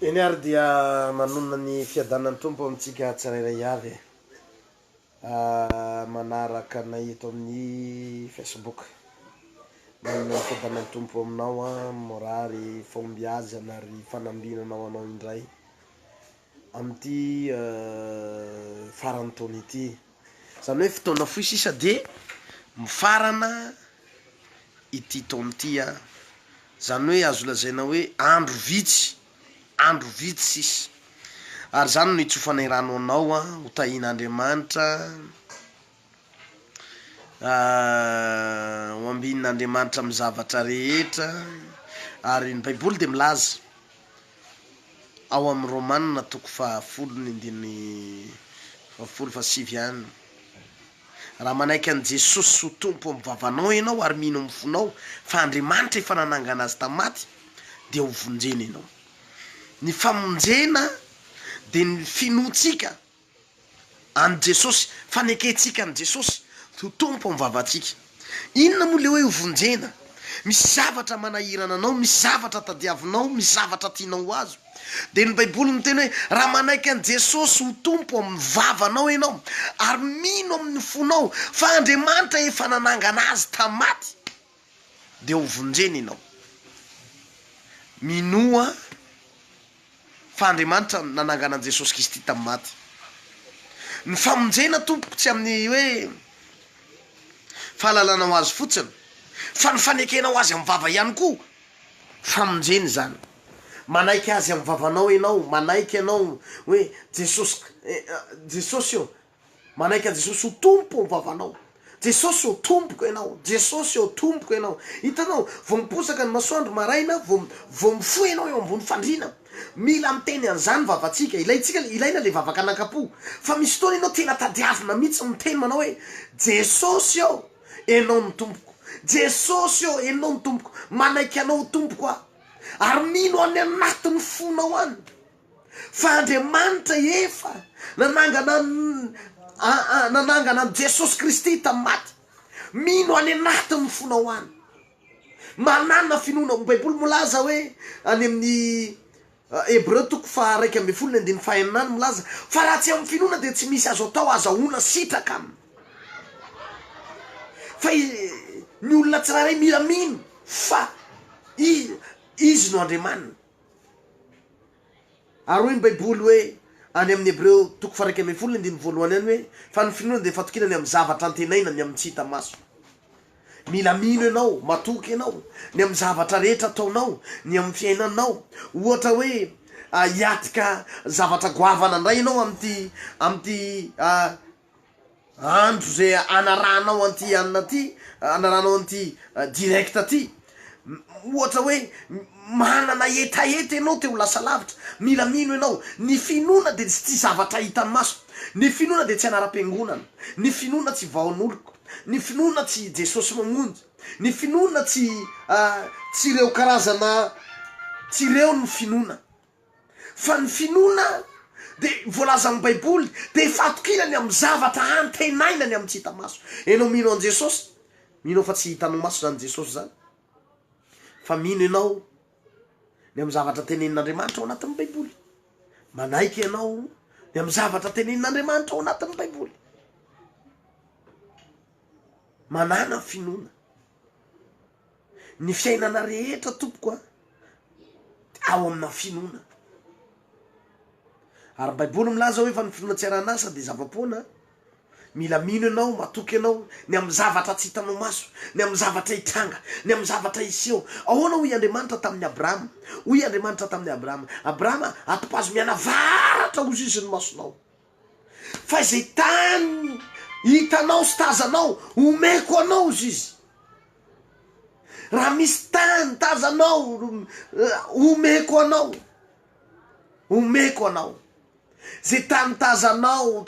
Eny ary dia manonona ny fiadanan'ny Tompo amintsika tsirairay avy manaraka anay eto amin'ny Facebook. Manonona ny fiadanan'ny Tompo aminao an, morary, fahombiazana ary fanambinana ho anao indray. amin'ity faran'ny taona ity. Izany hoe fotoana fohy sisa dia mifarana ity taona ity. Izany hoe azo lazaina hoe andro vitsy, andro vitsy sisa. Ary izany no itsofanay rano anao, ho tahian'Andriamanitra. Ho ambinin' Andriamanitra amin'ny zavatra rehetra. Ary ny Baiboly dia milaza ao amin'ny Romana toko fahafolo ny andininy fahafolo fa sivy ihany, Raha manaiky an'i Jesosy ho Tompo amin'ny vavanao ianao ary mino amin'ny fonao fa Andriamanitra efa nanangana Azy tamin'ny maty, dia hovonjena ianao. Ny famonjena dia ny finoantsika an'i Jesosy, fanekentsika an'i Jesosy ho Tompo amin'ny vavantsika. Inona moa ilay hoe hovonjena? Misy zavatra manahirana anao, misy zavatra tadiavinao, misy zavatra tianao ho azo. Dia ny Baiboly miteny hoe, raha manaiky an'i Jesosy ho Tompo amin'ny vavanao ianao, ary mino amin'ny fonao fa Andriamanitra efa nanangana Azy tamin'ny maty, dia ho vonjena ianao. Minoa fa Andriamanitra no nanangana an'i Jesosy Kristy tamin'ny maty. Ny famonjena tompoko tsy amin'ny hoe fahalalanao Azy fotsiny fa ny fanekenao Azy amin'ny vava ihany koa famonjena izany. Manaiky Azy amin'ny vavanao ianao, manaiky ianao hoe Jesosy, Jesosy ô, Manaiky an'i Jesosy ho Tompo ao vavanao. Jesosy ô Tompoko Ianao, Jesosy ô Tompoko Ianao. Hitanao, vao miposaka ny masoandro maraina, vao, vao mifoha ianao eo ambony fandriana, mila miteny an'izany vavantsika. Ilaintsika, ilaina ilay vavakananka-po. Fa misy fotoana ianao tena tadiavina mihitsy miteny manao hoe, Jesosy ô, Ianao no Tompoko. Jesosy ô, Ianao no Tompoko. Manaiky Anao ho Tompoko aho. Ary mino any anatin'ny fonao any. Fa Andriamanitra efa nanangana an nanangana an'i Jesosy Kristy tamin'ny maty. Mino any anatin'ny fonao any. Manana finoana. Ny Baiboly milaza hoe any amin'ny Hebreo toko faha iraika ambin'ny folo ny andininy faha enina any milaza fa raha tsy amin'ny finoana dia tsy misy azo atao azahoana sitraka aminy. Fa ny olona tsirairay mila mino fa izy no Andriamaniny. Ary hoy ny Baiboly hoe, any amin'ny Hebreo toko faha iraika ambin'ny folo andininy voalohany any hoe, Fa ny finoana dia fatokiana ny amin'ny zavatra antenaina, ny amin'ny tsy hita maso. Mila mino ianao, matoky ianao, ny amin'ny zavatra rehetra ataonao, ny amin'ny fiainanao. Ohatra hoe hiatrika zavatra goavana indray ianao amin'ity, amin'ity. Andro ze anarahanao an'ity anona ity, anarahanao an'ity direct ty, ohatra hoe manana hetaheta enao te ho lasa lavitra, mila mino enao, ny finoana de tsy tia zavatra hitan'ny maso, ny finoana de tsy anaram-piangonana, ny finoana tsy vahaon'oloko, ny finoana tsy Jesosy mamonjy, ny finoana tsy tsy reo karazana, tsy reo ny finoana. Fa ny finoana dia voalazan'ny baiboly dia fatokiana ny amin'ny zavatra antenaina ny amin'ny tsy hita maso. Enao mino an'i Jesosy, mino fa tsy hitanao maso izany Jesosy izany, fa mino enao ny amin'ny zavatra tenenin'Andriamanitra ao anatin'ny baiboly. Manaiky enao ny amin'ny zavatra tenenin'Andriamanitra ao anatin'ny baiboly. Manana finoana. Ny fiainana rehetra tompoko a dia ao amina finoana ary ny baiboly milaza hoe fa ny finoana tsy arahan'asa dia zava-poana mila mino ianao matoky ianao ny amin'ny zavatra tsy hitanao maso ny amin'ny zavatra hitranga ny amin'ny zavatra hiseho ahoana hoy Andriamanitra tamin'ny Abrahama hoy Andriamanitra tamin'ny Abrahama Abrahama atopazo mianavaratra ho ziziny masonao Fa izay tany hitanao sy tazanao, omeko anao izy izy. Raha misy tany tazanao, omeko anao, omeko anao. Izay tany tazanao,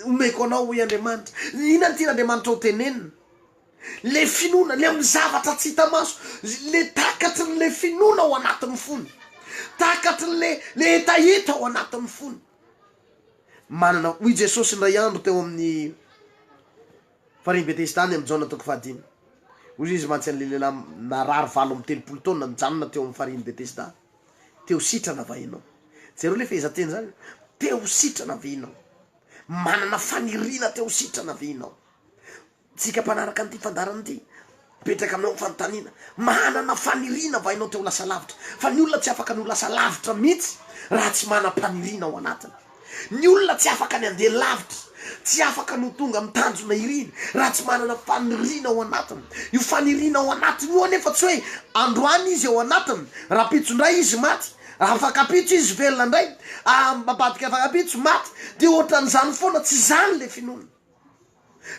omeko anao, hoy Andriamanitra. Inona no tian'Andriamanitra ho tenenina? Ilay finoana, ilay amin'ny zavatra tsy hita maso, ilay takatry ny ilay finoana ao anatin'ny fony, takatry ny ilay hetaheta ao anatin'ny fony. manana. Hoy Jesosy indray andro teo amin'ny farihin'i Betesda any amin'ny Jaona toko fahadimy, Hoy Izy, Mantsy an'ilay lehilahy narary valo amby telopolo taona nijanona teo amin'ny farihin'i Betesda, Te-ho sitrana va ianao? Jereo ilay fehezanteny izany, Te-ho sitrana ve ianao? Manana faniriana te-ho sitrana ve ianao? Tsika mpanaraka an'ity fandaharana ity, mipetraka aminao ny fanontaniana, manana faniriana va ianao te ho lasa lavitra? Fa ny olona tsy afaka ny ho lasa lavitra mihitsy raha tsy manam-paniriana ao anatiny. Ny olona tsy afaka ny handeha lavitra, tsy afaka ny ho tonga amin'ny tanjona iriny raha tsy manana faniriana ao anatiny. Io faniriana ao anatiny io anefa tsy hoe androany izy ao anatiny, rahampitso indray izy maty, afakampitso izy velona indray, ambadika afakampitso maty, dia ohatran'izany foana, tsy izany ilay finoana.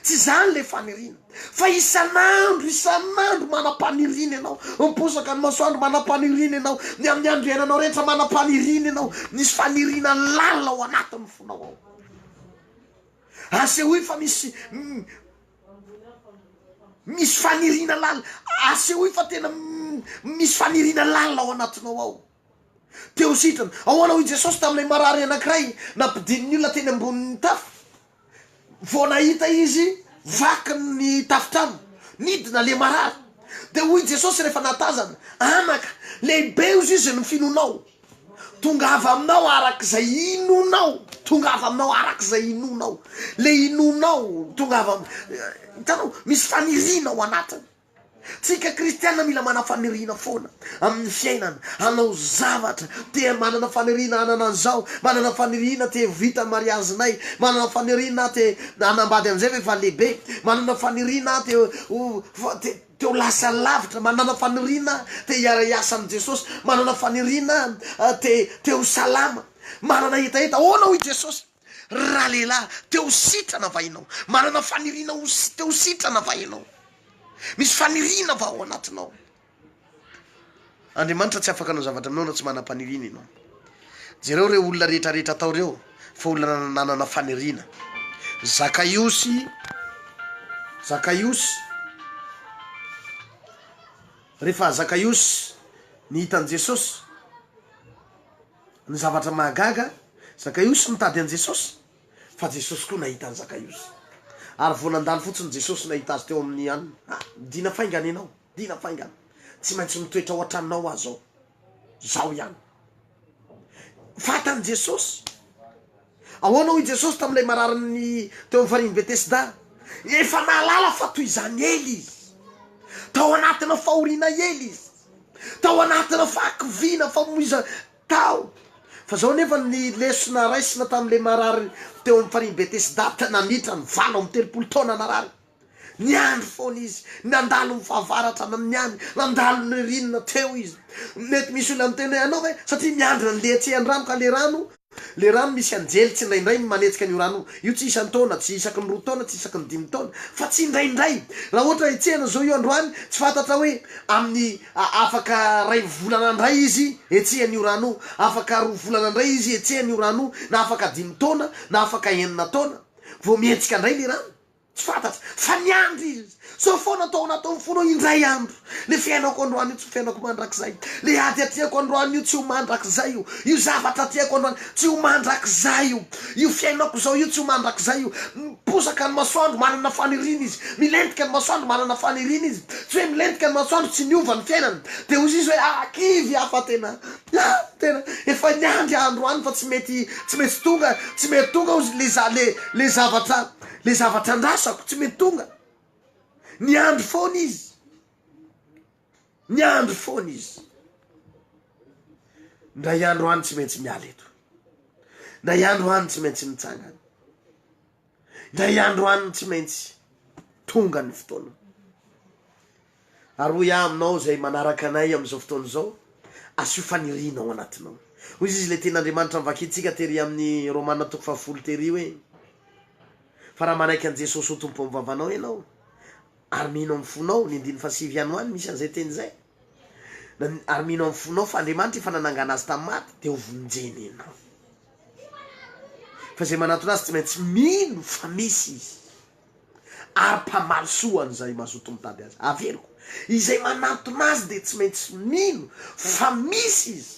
Tsy izany ilay faniriana. Fa isan'andro, isan'andro manam-paniriana ianao. Miposaka ny masoandro, manam-paniriana ianao. Ny amin'ny androananao rehetra, manam-paniriana ianao. Misy faniriana lalina ao anatin'ny fonao ao. Asehoy fa misy, misy faniriana lalina. Asehoy fa tena misy faniriana lalina ao anatinao ao. teo sitrana. Ahoana hoy Jesosy tamin'ilay marary anankiray nampidinin'ny olona teny ambonin'ny tafo? Vao nahita Izy vaky ny tafontrano, nidina ilay marary. Dia hoy Jesosy rehefa nahatazana, Anaka, lehibe hozy izy ny finoanao. Tongava aminao araka izay inoanao. Tongava aminao araka izay inoanao. Ilay inoanao, tongava aminao. Hitanao, misy faniriana ao anatiny. Tsika kristiana mila manana faniriana foana amin'ny fiainana, hanao zavatra, te manana faniriana hanana an'izao, manana faniriana te ho vita ny mariazinay, manana faniriana aho te hanambady an'izay fa efa lehibe, manana faniriana aho te ho te te ho lasa lavitra, manana faniriana aho te hiara-hiasa amin'i Jesosy, manana faniriana aho te te ho salama, manana hetaheta ahoana hoy Jesosy? Ralehilahy, te ho sitrana va ianao? Manana faniriana ho te ho sitrana va ianao? Misy faniriana va ao anatinao? Andriamanitra tsy afaka hanao zavatra aminao raha tsy manam-paniriana ianao. Jereo ireo olona rehetrarehetra tao ireo fa olona nanana faniriana. Zakaiosy, Zakaiosy, rehefa Zakaiosy nihita an'i Jesosy. Ny zavatra mahagaga, Zakaiosy nitady an'i Jesosy, fa Jesosy koa nahita an'i Zakaiosy. Ary vao nandalo fotsiny Jesosy nahita azy teo amin'ny hanina, Ha, dina faingana ianao, dina faingana. Tsy maintsy mitoetra ao an-tranonao aho izao. Izao ihany. Fantan'i Jesosy. Ahoana hoy Jesosy tamin'ilay marariny teo amin'ny farihin'i Betesda? Efa nahalala fa toy izany ela izy. Tao anatina fahoriana ela izy. Tao anatina fahakiviana, famoizana tao. Fa izao anefa ny lesona raisina tamin'ilay marary teo amin'ny farihin'i Betesda, naminitra ny valo amby telopolo taona narary. Niandry foana izy, nandalo ny fahavaratra na niany, nandalo ny ririnina teo izy. Mety misy olona miteny hoe, anao ve satria miandry an'le etsy andramo ka le rano, le rano misy anjely tsindraindray ny manetsika an'io rano io, io tsy isan-taona, tsy isaky ny roa taona, tsy isaky ny dimy taona fa tsindraindray. Raha ohatra etsehina zao io androany, tsy fantatra hoe amin'ny afaka ray volana indray izy etsehina io rano io, afaka roa volana indray izy etsehina io rano io, na afaka dimy taona, na afaka enina taona vao mihetsika indray le rano. Tsy fantatro fa niandry izy sao foana tao anatiny foana hoe indray andro le fiainako androany io tsy ho fiainako mandrakizay, le ady atrehako androany io tsy ho mandrakizay io, io zavatra atrehako androany tsy ho mandrakizay io, io fiainako zao io tsy ho mandrakizay io, miposaka ny masoandro manana faniriana izy, milentika ny masoandro manana faniriana izy, tsy hoe milentika ny masoandro tsy miova ny fiainany, de hozy izy hoe ah kivy ah fa tena ah tena efa niandry ah androany fa tsy mety tsy maintsy tonga tsy mety tonga hozy le za le le zavatra Le zavatra andrasako tsy mety tonga. Niandry foana izy. Niandry foana izy. Ndray andro any tsy maintsy miala eto. Ndray andro any tsy maintsy mitsangana. Ndray andro any tsy maintsy tonga ny fotoana. Ary hoy aho aminao, izay manaraka anay amin'izao fotoana izao, asio faniriana ao anatinao. Hoy izy, ilay tenin'Andriamanitra novakintsika tery amin'ny Romana toko fahafolo tery hoe, Fa raha manaiky an'i Jesosy ho Tompo ao amin'ny vavanao ianao, ary mino amin'ny fonao, ny andininy fahasivy ihany ho any misy an'izay teny izay, na, ary mino amin'ny fonao fa Andriamanitra efa nanangana azy tamin'ny maty, dia hovonjena ianao. Fa izay manantona azy tsy maintsy mino fa misy izy. Ary mpamaly soa an'izay mazoto mitady azy. Averiko, izay manantona azy dia tsy maintsy mino fa misy izy,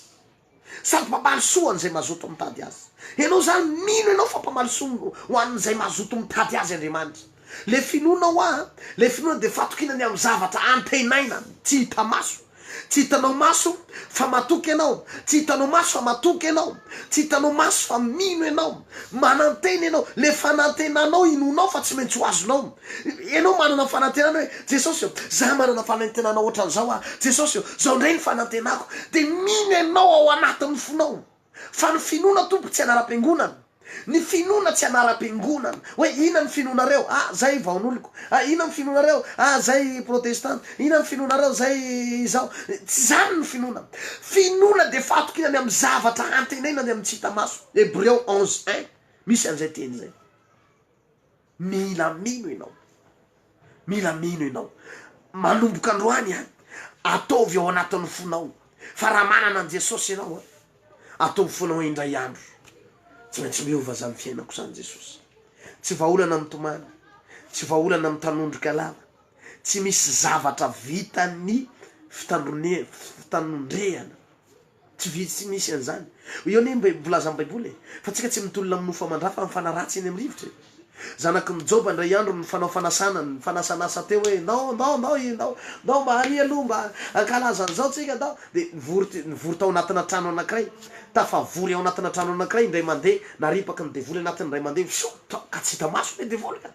sady mpamaly soa an'izay mazoto mitady azy. Ianao izany, mino ianao fa mpamaly soa ho an'izay mazoto mitady azy Andriamanitra. Ilay finoana hoa, ilay finoana dia fatokiana ny amin'ny zavatra antenaina, tsy hita maso. Tsy hitanao maso fa matoky ianao, tsy hitanao maso fa matoky ianao, tsy hitanao maso fa mino ianao, manantena ianao, le fanantenanao inoanao fa tsy maintsy ho azonao, ianao manana fanantenana hoe Jesosy ô, za manana fanantenana ohatran'izao aho, Jesosy ô, zao ndray ny fanantenako, de mino ianao ao anatin'ny fonao. Fa ny finoana Tompo tsy anaram-piangonana, ny finoana tsy anaram-piangonana, hoe inona ny finoanareo? ah zay vaon'oloko, ah inona ny finoanareo? ah zay protestanta, inona ny finoanareo? zay izao, tsy izany ny finoana. Finoana dia fahatokiana ny amin'ny zavatra antenaina ny amin'ny tsy hita maso, Hebreo onze un, misy an'izay teny izay. Mila mino ianao. Mila mino ianao. Manomboka androany an, ataovy ao anatin'ny fonao fa raha manana an'i Jesosy ianao an, ataovy foana hoe indray andro tsy maintsy miova izany fiainako izany Jesosy. Tsy vahaolana mitomany, tsy vahaolana mitanondrika lava, tsy misy zavatra vitan'ny fitanondrehana. Tsy vitsy tsy misy an'izany. Eo anie ny volazan'ny Baiboly e! Fa tsika tsy mitolona amin'ny mofo aman-dra fa mifana ratsy eny amin'ny rivotra e! Zanaky ny Joba indray andro nifanao fanasana, nifanasanasa teo hoe ndao, ndao, ndao i, ndao, ndao mba ary aloha mba hankalaza an'izao tsika ndao! Dia nivory, nivory tao anatina trano anankiray. Tafavory ao anatina trano anankiray indray mandeha, naripaky ny devoly anatiny indray mandeha, fisoa! Ka tsy hita maso le devoly ka!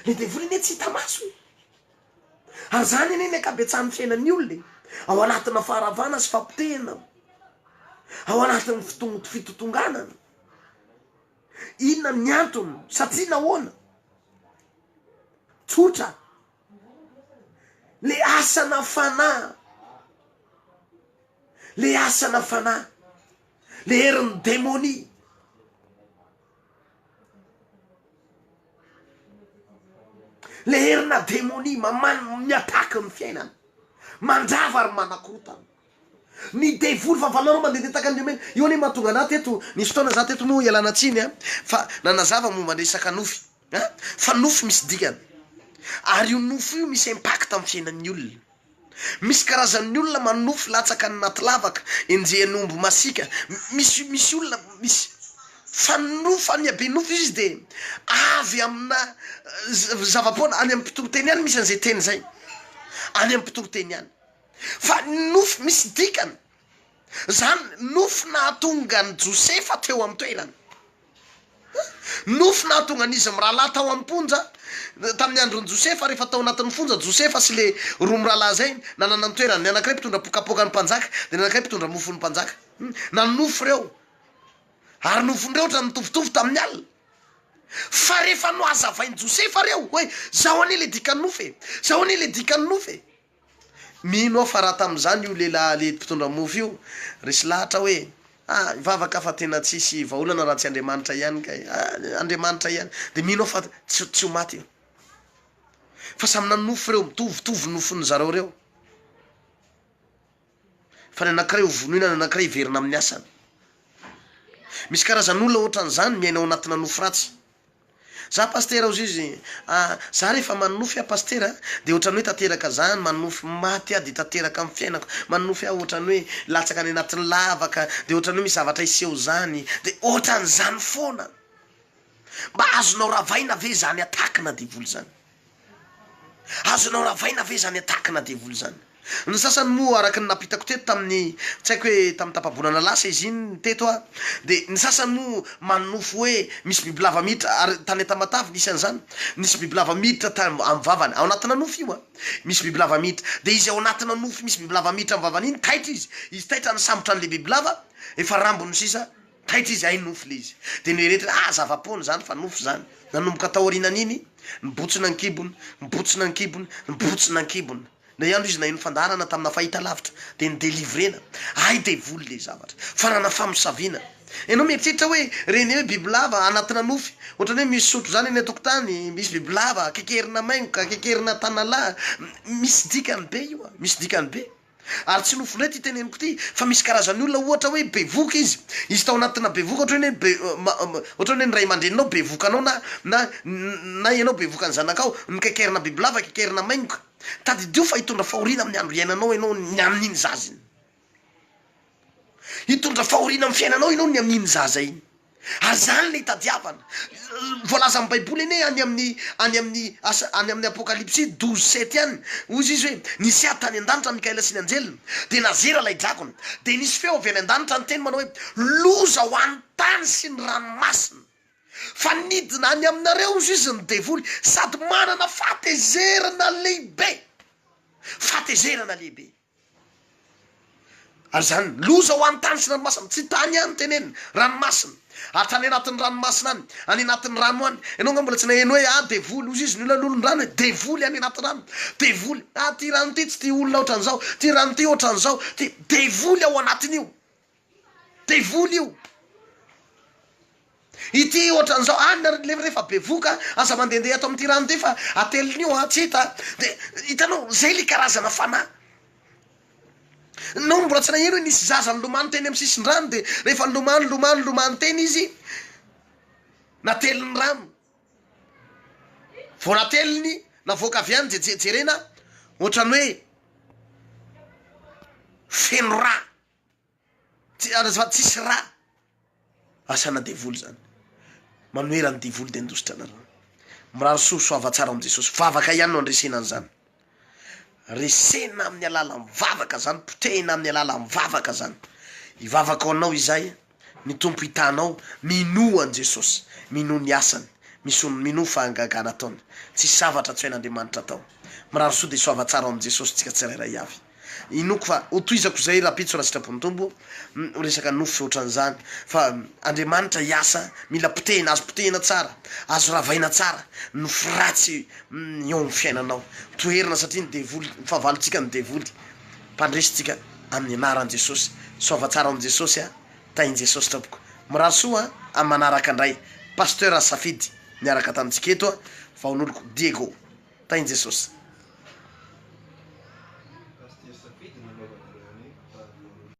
Le devoly anie tsy hita maso e! Ary izany anie ny ankabetsahan'ny fiainan'ny olona e! Ao anatina faharavana sy fahapotehana, ao anatin'ny fotoana fitotonganana. Inona ny antony? Satria nahoana? Tsotra, le asana fanahy, le asana fanahy, le herin'ny demonia. Ilay herinà demonia maman- mi-attaque ny fiainana, mandrava ary manakorotana. Ny devoly fahavalonareo mandehandeha tahaka ny lemena. Io anie mahatonga anà teto, nisy fotoana za teto moa ialana tsiny an, fa nanazava momba ny resaka nofy. An? Fa nofo misy dikany. Ary io nofo io misy impact amin'ny fiainan'ny olona. Misy karazan'ny olona manofo latsaka any anaty lavaka, enjehan'ny omby masiaka. Misy misy olona misy. Fa ny nofo any be nofo izy dia avy amina zava-poana, any amin'ny mpitoriteny ihany misy an'izay teny izay. Any amin'ny mpitoriteny ihany. Fa ny nofo misy dikany. Izany nofy nahatonga an'i Josefa teo an-toerana. Nofy nahatonga an'izy mirahalahy tao am-ponja, tamin'ny andron'i Josefa, rehefa tao anatin'ny fonja Josefa sy ilay roa mirahalahy izay, nanana ny toerany. Ny anankiray mpitondra pokapoka ny mpanjaka, dia ny anankiray mpitondra mofo ny mpanjaka. Na nofy ireo, ary nofin-dreo ohatra ny mitovitovy tamin'ny alina. Fa rehefa nohazavain'i Josefa ireo hoe, izao anie ilay dikan'ny nofy e! Izao anie ilay dikan'ny nofy e! Mino aho fa raha tamin'izany io lehilahy lehidy mpitondra mofo io resy lahatra hoe, ah, hivavaka fa tena tsy hisy vahaolana raha tsy Andriamanitra ihany kay, ah, Andriamanitra ihany, dia mino aho fa tsy, tsy ho maty io. Fa samy nanonofy ireo, mitovitovy ny nofon'izareo ireo. fa ny anankiray ho vonoina, ny anankiray hiverina amin'ny asany. Misy karazan'olona ohatran'izany miaina ao anatina nofy ratsy. Za Pasitera hozy izy, ah za rehefa manonofy aho Pasitera a, dia ohatran'ny hoe tanteraka zany, manonofy maty aho dia tanteraka amin'ny fiainako, manonofy aho ohatran'ny hoe latsaka any anatin'ny lavaka dia ohatran'ny hoe misy zavatra hiseho zany, dia ohatran'izany foana. Mba azonao ravaina ve izany attaque-na devoly izany? Azonao ravaina ve izany attaque-na devoly izany? Ny sasany moa araka ny nampitako teto tamin'ny, tsy haiko hoe tamin'ny tapa-bolana lasa izy iny teto aho, dia ny sasany moa manonofy hoe misy bibilava miditra, ary tany Antamatave nisy an'izany, nisy bibilava miditra tany amin'ny vavany, ao anatina nofy io an! misy bibilava miditra, dia izy ao anatina nofy misy bibilava miditra amin'ny vavany iny taitra izy, izy taitra nisambotra an'ilay bibilava, efa rambony sisa, Taitra izy hay nofy le izy de noeretriny ah zava-poana zany fa nofy zany. Nanomboka taorinan'iny nibotsina an-kibony, nibotsina an-kibony, nibotsina an-kibony. Indray andro izy naheno fandaharana tamina fahitalavitra de nodelivrena. Hay devoly le zavatra. Farana famosaviana. Ianao mieritreritra hoe reny hoe bibilava anatina nofy. Ohatrany hoe misy sotro zany eny an-tokotany, misy bibilava, kekerina maingoka, kekerina tanalahy. Misy dikany be io a, misy dikany be. Ary tsy nofinao ity teneniko ity fa misy karazan'ny olona ohatra hoe bevoka izy, izy tao anatina bevoka ohatra hoe be ohatra hoe ny ray aman-dreninao bevoka anao na na na ianao bevoka ny zanakao, nokekerina bibilava, kekerina maingoka. Tadidio fa hitondra fahoriana amin'ny andro iainanao ianao ny amin'iny zaza iny. Hitondra fahoriana amin'ny fiainanao ianao ny amin'iny zaza iny. Ary izany ilay itadiavana. Voalazan'ny Baiboly anie any amin'ny any amin'ny asa any amin'ny Apokalypsy douze sept any, hoy izy hoe, Nisy ahy tany an-danitra Mikaela sy ny anjeliny, dia nazera ilay drakona. Dia nisy feo avy any an-danitra niteny manao hoe, Loza ho an'ny tany sy ny ranomasina! Fa nidina any aminareo hoy izy ny devoly, sady manana fahatezerana lehibe. Fahatezerana lehibe. Ary izany loza ho an'ny tany sy ny ranomasina, tsy tany ihany no tenenina, ranomasina, ary tany anatin'ny ranomasina any, any anatin'ny rano any, ianao nga mbola tsy naheno hoe ah devoly, hoy izy ny olona lolon-drano hoe devoly any anaty rano, devoly, ah ity rano ity tsy tia olona ohatran'izao, ity rano ity ohatran'izao, ity, devoly ao anatin'io. Devoly io. Ity ohatran'izao any nareo le rehefa bevoka aza mandehandeha ato amin'ity rano ity fa atelin'io an, tsy hita an, de hitanao zay le karazana fanahy. Nao mbola tsy naheno hoe nisy zaza nilomano teny amin'ny sisin-drano de rehefa nilomano nilomano nilomano teny izy natelin'ny rano, vao nateliny navoaka avy any de je-jerena ohatran'ny hoe feno rà. Tsy zany azafady tsisy ra. Asana devoly zany. Manohera ny devoly de ndositra nareo. Mirary soa soava tsara am Jesosy. Vavaka ihany no andresena an'zany. Resena amin'ny alalan'ny vavaka zany, potehina amin'ny alalan'ny vavaka zany. Ivavaka ho anao izahay. Ny Tompo hitanao, minoa an'i Jesosy, minoa ny asany, minoa ny fahagagana ataony, tsisy zavatra tsy hain'Andriamanitra atao. Mirary soa dia soava tsara ao amin'i Jesosy tsika tsirairay avy. Inoako fa ho tohizako izay rahampitso raha sitrapon'ny Tompo, resaka nofy sy otran'izany, fa Andriamanitra hiasa mila potehina, azo potehina tsara, azo ravaina tsara ny nofy ratsy eo amin'ny fiainanao, toherina satria ny devoly, fahavalontsika ny devoly. Mpandresy tsika amin'ny anaran'i Jesosy. Soava tsara ao amin'i Jesosy a! Tahin'i Jesosy tompoko. Mirary soa amin'ny manaraka ndray Pasteur Safidy niaraka tamintsika eto a! Vahonoloko Diego. Tahin'i Jesosy.